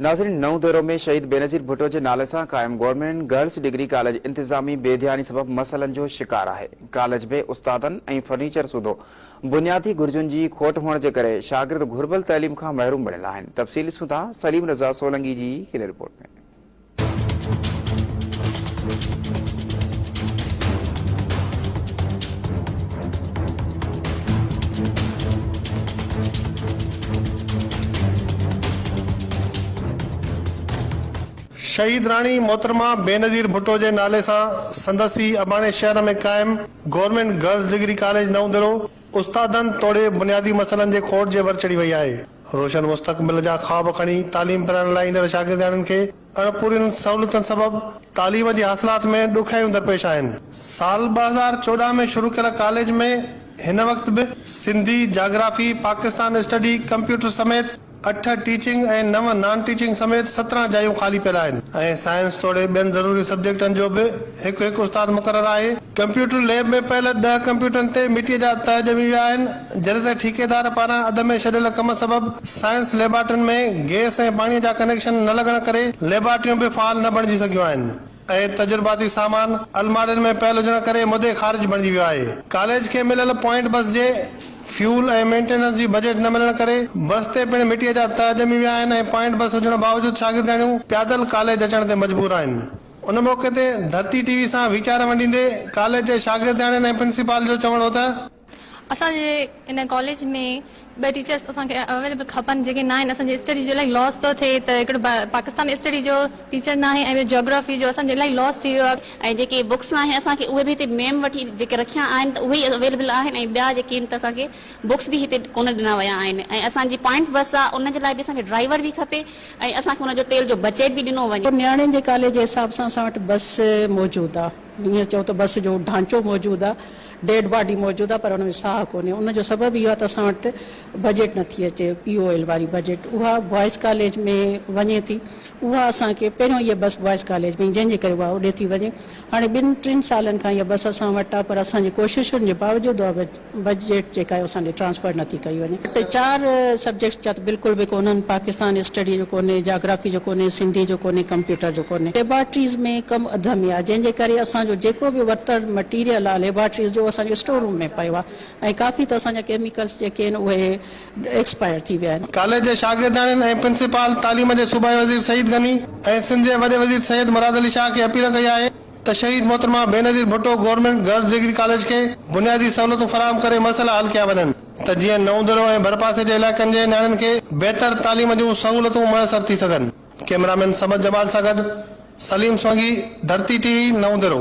ناظرين نئون ديرو ۾ شهيد بينظير ڀٽو جي نالي سان قائم گورنمينٽ گرلس ڊگري ڪاليج انتظامي بي ڌياني سبب مسئلن جو شڪار آهي ڪاليج ۾ استادن ۽ فرنيچر سوڌو بنيادي گهرجن جي کوٽ هئڻ جي ڪري شاگرد گهربل تعليم کان محروم بڻيل آهن تفصيل ڏسون ٿا سليم رضا سولنگي جي هن رپورٽ ۾ شهيد راڻي محترمه بينظير ڀٽو جي نالي سان سندس ئي اباڻي شهر ۾ قائم government girls degree college Naudero استادن توڙي بنيادي مسئلن جي کوٽ جي ور چڙهي وئي آهي. روشن مستقبل جا خواب کڻي تعليم پرائڻ لاء ايندڙ شاگردياڻين کي اڻپورين سهولتن سبب تعليم جي حاصلات ۾ ڏکيائيون درپيش آهن. سال ٻه هزار چوڏهن ۾ شروع ڪيل ڪاليج ۾ هن وقت به Sindhi, geography, Pakistan study, computer سميت اٺ ٽيچنگ ۽ نو نان ٽيچنگ سميت سترهن جايون خالي پيل آهن ۽ سائنس توڙي ٻين ضروري سبجيڪٽن جو به هڪ هڪ استاد مقرر آهي. ڪمپيوٽر ليب ۾ پيل ڏهه ڪمپيوٽرن تي مٽيء جا تهه ڄمي ويا آهن. جڏهن ته ٺيڪيدار پاران اڌ ۾ ڇڏيل ڪم سبب سائنس ليبارٽرين ۾ گئس ۽ پاڻي جا ڪنيڪشن نه لڳڻ ڪري ليبارٽريون به فعال نه بڻجي سگهيون آهن ۽ تجرباتي سامان الماڙين ۾ پيل هجڻ ڪري مدي خارج بڻجي ويو آهي. ڪاليج کي مليل پوائنٽ بس جي فيول ۽ مينٽيننس جي بجيٽ نه ملڻ ڪري بس تي پڻ مٽيء جا تهه ڄمي ويا آهن ۽ پوائنٽ بس هجڻ باوجود شاگردياڻيون پيادل ڪاليج اچڻ تي مجبور آهن. ان موقعي تي ڌرتي ٽي وي سان ويچار ونڊيندي ڪاليج جي شاگردياڻين ۽ پرنسپال جو چوڻ هو ته. اسان جي ان ڪاليج ۾ ٻه ٽيچرس اسان کي اويليبل کپن جيڪي نه آهن اسان جي اسٽڊي جو الائي لاس ٿو ٿئي ته هڪڙو پاڪستان اسٽڊي جو ٽيچر ناهي ۽ ٻيو جاگرافي جو اسان جو الائي لاس ٿي ويو آهي. ۽ جيڪي بڪس آهن اسان کي اهي به هتي ميم وٽ ئي جيڪي رکيا آهن ته اهي ئي اويليبل آهن ۽ ٻيا جيڪي آهن ته اسان کي بڪس به هتي ڪونه ڏنا ويا آهن ۽ اسان جي پوائنٽ بس آهي ان جي لاء به اسان کي ڊرائيور به کپي ۽ اسان کي ان جو تيل جو بجيٽ به ڏنو وڃي. نياڻين جي ڪاليج جي حساب سان اسان وٽ بس موجود آهي. ائين چئو ته بس جو ڍانچو موجود آ، ڊيڊ باڊي موجود آ پر ان ۾ ساهه ڪونهي، ان جو سبب اهو آ ته اسان وٽ بجيٽ نٿي اچي، پي او ايل واري بجيٽ اها بوائز ڪاليج ۾ وڃي ٿي، اها اسان کي پهريون اها بس بوائز ڪاليج ۾ جنهن جي ڪري اها اڏي ٿي وڃي، هاڻي ٻن ٽن سالن کان اها بس اسان وٽ آ پر اسان جي ڪوششن جي باوجود اها بجيٽ جيڪا اهو اسان ڏي ٽرانسفر نه ٿي ڪئي وڃي ٽي چار سبجيڪٽس جا ته بلڪل به ڪونهن پاڪستان اسٽڊي جو ڪونهي جاگرافي جو ڪونهي سنڌي جو ڪونهي ڪمپيوٽر جو ڪونهي ليبارٽريز ۾ ڪم اڌ ۾ آهي جنهن جي ڪري اسان جو جيڪو به ورتل مٽيريل آهي ليبارٽريز جو اهو اسان جو اسٽور روم ۾ پيو آهي ۽ ڪافي ته اسان جا ڪيميڪلس جيڪي آهن اهي ايڪسپائر ٿي ويا آهن. ڪاليج جي شاگردياڻين ۽ پرنسپال تعليم جي صوبائي وزير سعيد غني ۽ سنڌ جي وڏي وزير سيد مراد علي شاهه کي اپيل ڪئي آهي ته شهيد محترمه Benazir Bhutto government girls degree college کي بنيادي سهولتون فراهم ڪري مسئلا حل ڪيا وڃن ته جيئن نئون درو ۽ ڀرپاسي جي علائقن جي نياڻين کي بهتر تعليم جون سهولتون ميسر ٿي سگهن ڪئميرامين صمد جمال سان گڏ سليم سونگي ڌرتي ٽي وي نئون درو.